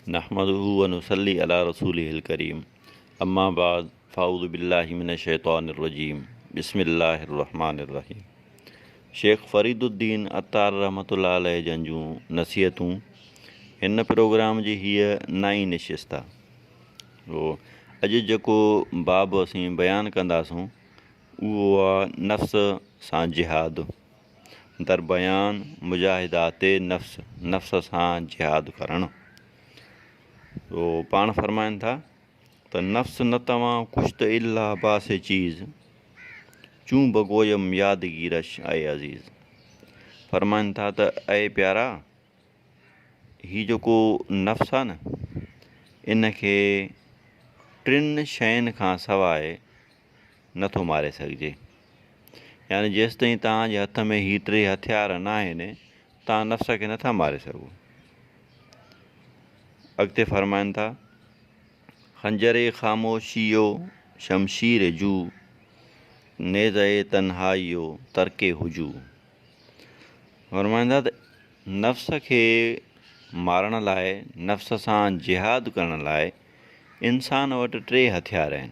نحمده ونصلي علي رسوله الڪريم اما بعد فاعوذ بالله من الشيطان الرجيم بسم الله الرحمٰن الرحيم شيخ فريد الدين عطار رحمت الله عليه جن جون نصيحتون هن پروگرام جي هيء نائين نشست آهي اڄ جيڪو باب اسين بيان ڪنداسون اهو آهي نفس سان جهاد در بيان مجاهدات نفس، نفس سان جهاد ڪرڻ، تو پاڻ فرمائن ٿا ته نفس نه توهان ڪشت الا باس چيز، چون بگويم يادگيرش اي عزيز. فرمائن ٿا ته اي پيارا هي جيڪو نفس آهي نه ان کي ٽن شين کان سواء نه ٿو ماري سگهجي. يعني جيستائين توهان جي هٿ ۾ هي ٽي هٿيار ناهن، توهان نفس کي نٿا ماري سگهو. اڳتي فرمائن ٿا. خنجر خاموشيء شمشير جو، نيزه تنهائيء ترڪ هجو. فرمائن ٿا ته نفس کي مارڻ لاء، نفس سان جهاد ڪرڻ لاء انسان وٽ ٽي هٿيار آهن.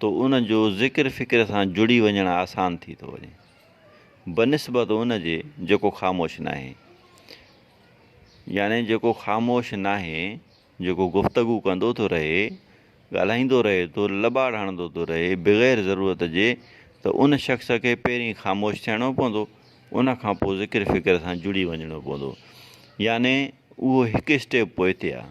ته ان جو ذڪر فڪر سان جڙي وڃڻ آسان ٿي ٿو وڃي بنسبت ان جي جيڪو خاموش ناهي يعني جيڪو خاموش ناهي جيڪو گفتگو ڪندو ٿو رهي ڳالهائيندو رهي ٿو لٻاڙ هڻندو ٿو رهي بغير ضرورت جي ته ان شخص کي پهرين خاموش ٿيڻو پوندو ان کان پوء ذڪر فڪر سان جڙي وڃڻو پوندو يعني اهو هڪ اسٽيپ پوئتي آهي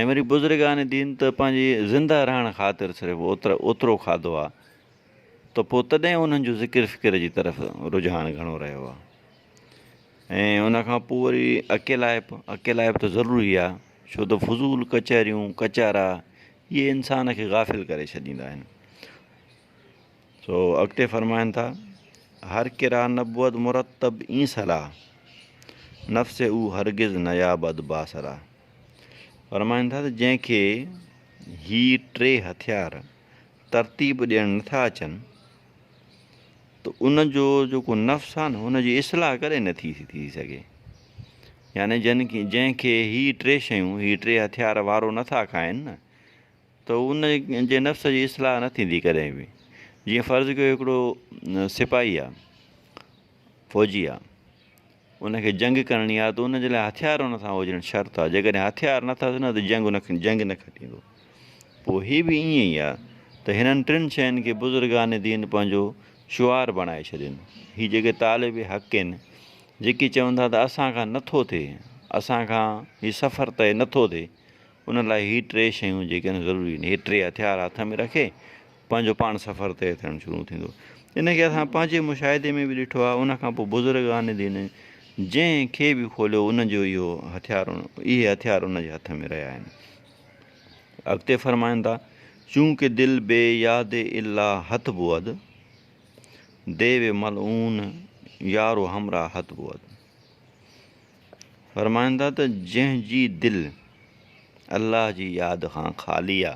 ۽ وري بزرگان دين ته پنهنجي زنده رهڻ خاطر صرف اوترو کاڌو آ ته پوء تڏهن انهن جو ذڪر فڪر جي طرف رجحان گهڻو رهيو آ ۽ ان کان پوء وري اڪيلائپ اڪيلائپ ته ضروري آ ڇو ته فضول ڪچهريون ڪچهرا اهي انسان کي غافل ڪري ڇڏيندا آهن سو اڳتي فرمائن ٿا هر ڪرا نبود مرتب اين صلاح نفس او هرگز نيابد باصلاح فرمائن ٿا ته جنهن کي هي ٽي هٿيار ترتيب ڏيڻ نٿا اچن ته ان جو جيڪو نفس آهي نه ان جي اصلاح ڪڏهن نٿي ٿي سگهي يعني جن کي جنهن کي هي ٽي شيون هي ٽي هٿيار وارو نٿا کائن نه ته ان جي نفس جي اصلاح نه ٿيندي ڪڏهن به جيئن فرض ڪيو هڪڙو سپاهي آ فوجي آ ان کي جنگ ڪرڻي آ ته ان جي لاء هٿيار ان سان هجڻ شرط آ جيڪڏهن هٿيار نه اٿس نه ته جنگ نه جنگ نه کٽيندو پوء هي به ائين ئي آ ته هنن ٽن شين کي بزرگان دين پنهنجو شعار بڻائي ڇڏين هي جيڪي طالب حق آهن جيڪي چون ٿا ته اسان کان نه ٿو ٿئي اسان کان هي سفر طئي نه ٿو ٿئي ان لاء هي ٽي شيون جيڪي آهن ضروري آهن. هي ٽي هٿيار هٿ ۾ رکي پنهنجو پاڻ سفر طئي ٿيڻ شروع ٿيندو. ان کي اسان پنهنجي مشاهدي ۾ به ڏٺو آهي. ان کان پوء بزرگان دين جنهن کي به کوليو ان جو اهو هٿيار اهي هٿيار ان جي هٿ ۾ رهيا آهن. اڳتي فرمائن ٿا. چونڪه دل بي ياد الا هت بود، ديو ملعون يارو همراهت بود. فرمائن ٿا ته جنهن جي دل الله جي ياد کان خالي آ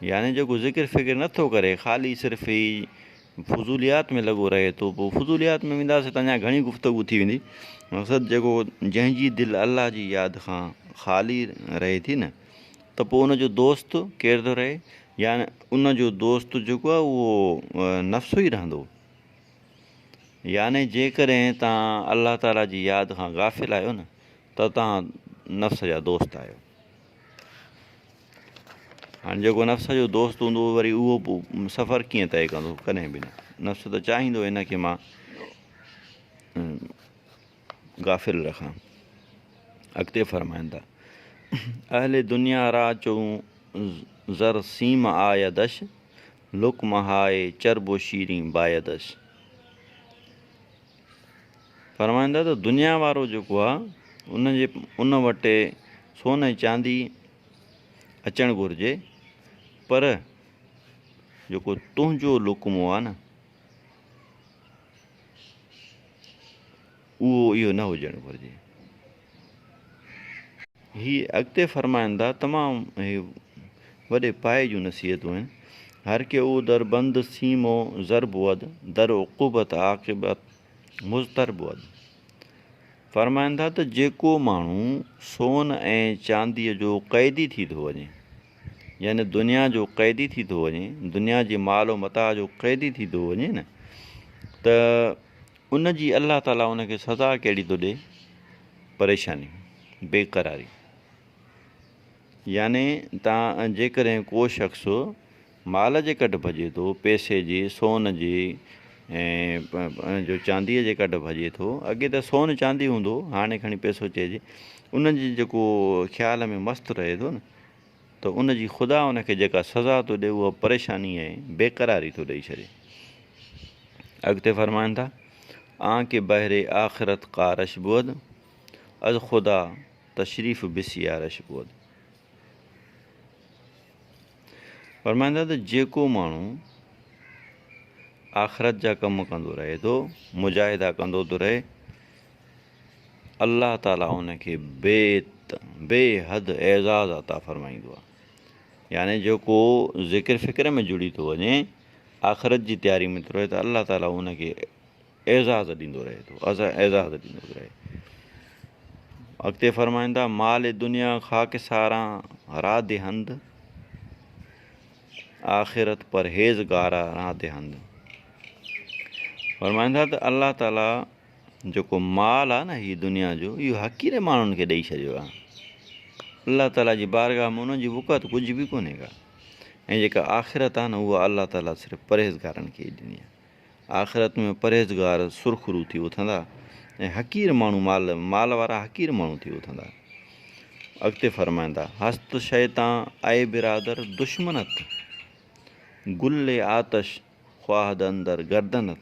يعني جيڪو ذڪر فڪر نه ٿو ڪري خالي صرف هي فضوليات ۾ لڳو رهي ٿو پوء فضوليات ۾ وينداسي ته اڃا گهڻي گفتگو ٿي ويندي مقصد جيڪو جنهن جي دل الله جي ياد کان خالي رهي ٿي نه ته پوء ان جو دوست ڪير ٿو رهي يعني ان جو دوست جيڪو آ اهو نفس ئي رهندو يعني جيڪڏهن توهان الله تعاليٰ جي ياد کان غافل آهيو نه ته توهان نفس جا دوست آهيو. هاڻي جيڪو نفس جو دوست هوندو وري اهو سفر ڪيئن طئي ڪندو ڪڏهن به نه نفس ته چاهيندو هن کي مان غافل رکان اڳتي فرمائن ٿا اهل دنيا را چون زر سيم آيا دش لوڪ مهائي چرب و شيرين بايدش. فرمائن ٿا ته دنيا وارو جيڪو آ ان جي ان وٽ سون ۽ چاندي اچڻ گهرجي پر جيڪو تنهنجو لقمو آ نه اهو اهو نه هجڻ گهرجي. هي اڳتي فرمائن ٿا، تمام هي وڏي پايي جون نصيحتون آهن، هر ڪي او در بند سيم و زر بود، در عقوبت عاقبت مضطر بود. فرمائن ٿا ته جيڪو ماڻهو سون ۽ چانديء جو قيدي ٿي ٿو وڃي، يعني دنيا جو قيدي ٿي ٿو وڃي، دنيا جي مال و متاع جو قيدي ٿي ٿو وڃي نه، ته ان جي الله تعالي ان کي سزا ڪهڙي ٿو ڏي؟ پريشاني، بي قراري. يعني ته جيڪڏهن ڪو شخص مال جي ڪڍ ڀڄي ٿو، پئسي جي، سون جي ۽ جو چانديء جي ڪڍ ڀڄي ٿو، اڳي ته سون چاندي هوندو هو، هاڻي کڻي پئسو چئجي، ان جي جيڪو خيال ۾ مست رهي ٿو نه ته ان جي خدا ان کي جيڪا سزا ٿو ڏئي اها پريشاني ۽ بيقراري ٿو ڏئي ڇڏي. اڳتي فرمائن ٿا، آن ڪي بهر آخرت قارش بود، از خدا تشريف بسيارش بود. فرمائن ٿا ته جيڪو ماڻهو آخرت جا ڪم ڪندو رهي ٿو، مجاهدا ڪندو ٿو رهي، الله تعالي ان کي بيت، بي حد، اعزاز عطا فرمائيندو آهي. يعني جو ڪو ذڪر فڪر ۾ جڙي ٿو وڃي، آخرت جي تياري ۾ ٿو رهي ته الله تعالي ان کي اعزاز ڏيندو رهي ٿو، اعزاز ڏيندو ٿو رهي. اڳتي فرمائن ٿا، مال دنيا خاڪ ساران راڌ هند، آخرت پرهيزگارا راڌ هند. فرمائن ٿا ته الله تعالي جيڪو مال آهي نه هي دنيا جو اهو حقير ماڻهن کي ڏئي ڇڏيو آهي الله تعالي جي بارگاهه ۾ ان جي وقعت ڪجهه به ڪونهي ڪا ۽ جيڪا آخرت آهي نه اها الله تعالي صرف پرهيزگارن کي ئي ڏني آهي آخرت ۾ پرهيزگار سرخرو ٿي اٿندا ۽ حقير ماڻهو مال مال وارا حقير ماڻهو ٿي اٿندا اڳتي فرمائندا هست شيطان اي برادر دشمنت گل آتش خواهد اندر گردنت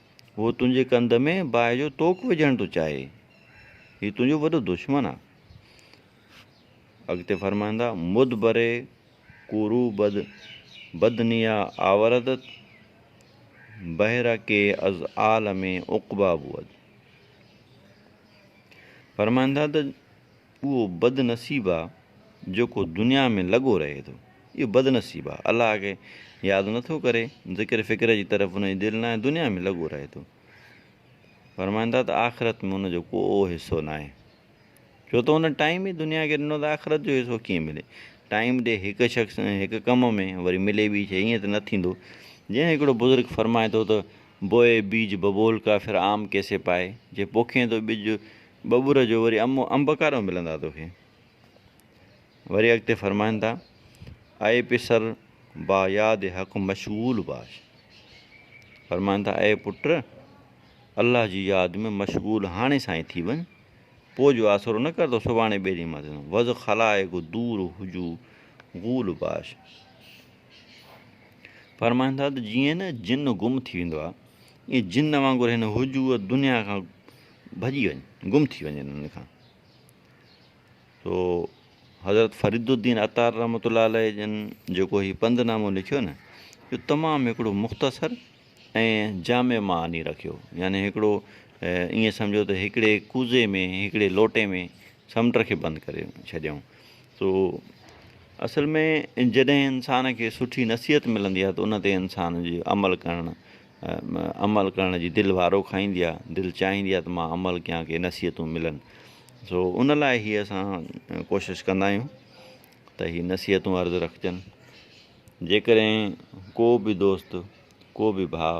هو تنهنجي ڪنڌ ۾ باهه جو توڪ وجهڻ ٿو چاهي. هي تنهنجو وڏو دشمن آ. اڳتي فرمائن ٿا، مدبري ڪورو بد بد نيا آوردت بهر ڪي از عالم عقبا بود. فرمائن ٿا ته اهو بد نصيب آ جيڪو دنيا ۾ لڳو رهي ٿو. اهو بد نصيب آ الله کي ياد نه ٿو ڪري، ذڪر فڪر جي طرف ان جي دل ناهي، دنيا ۾ لڳو رهي ٿو. فرمائن ٿا ته آخرت ۾ ان جو ڪو حصو ناهي. ڇو ته هن ٽائيم ئي دنيا کي ڏنو ته آخرت جو حصو ڪيئن ملي. ٽائيم ڏي هڪ شخص ۽ هڪ ڪم ۾ وري ملي ٻي شيء ائين ته نه ٿيندو. جيئن هڪڙو بزرگ فرمائي ٿو ته بوئي بيج ببول ڪا ڦر آم ڪيسي پائي جي پوکين ٿو ٻج ٻٻر جو وري امو انب ڪاڏو ملندا توکي وري اڳتي فرمائن ٿا اي پسر با ياد حق مشغول باش فرمائن ٿا اي پٽ الله جي ياد ۾ مشغول هاڻي سائين ٿي وڃ پوء جو آسرو نه ڪر تو سڀاڻي ٻئي ڏينهن مان ٿيندو وز خلائق دور هجو غول باش فرمائن ٿا ته جيئن نه جن گم ٿي ويندو آهي ائين جن وانگر هن هجو دنيا کان ڀڄي وڃن گم ٿي وڃن ان کان سو حضرت فريد الدين عطار رحمت الله عليه جن جيڪو هي پنڌ نامو لکيو نه جو تمام هڪڙو مختصر ۽ جامع معني رکيو يعني هڪڙو ائين سمجھو ته هڪڙي ڪوزي ۾ هڪڙي لوٽي ۾ سمنڊ کي بند ڪري ڇڏيائون سو اصل ۾ جڏهن انسان کي سٺي نصيحت ملندي آهي ته ان تي انسان جي عمل ڪرڻ عمل ڪرڻ جي دل وارو کائيندي آ دل چاهيندي آ ته مان عمل ڪيان ڪي نصيحتون ملن سو ان لاء هي اسان ڪوشش ڪندا آهيون ته هي نصيحتون عرض رکجن جيڪڏهن ڪو به دوست ڪو به ڀاء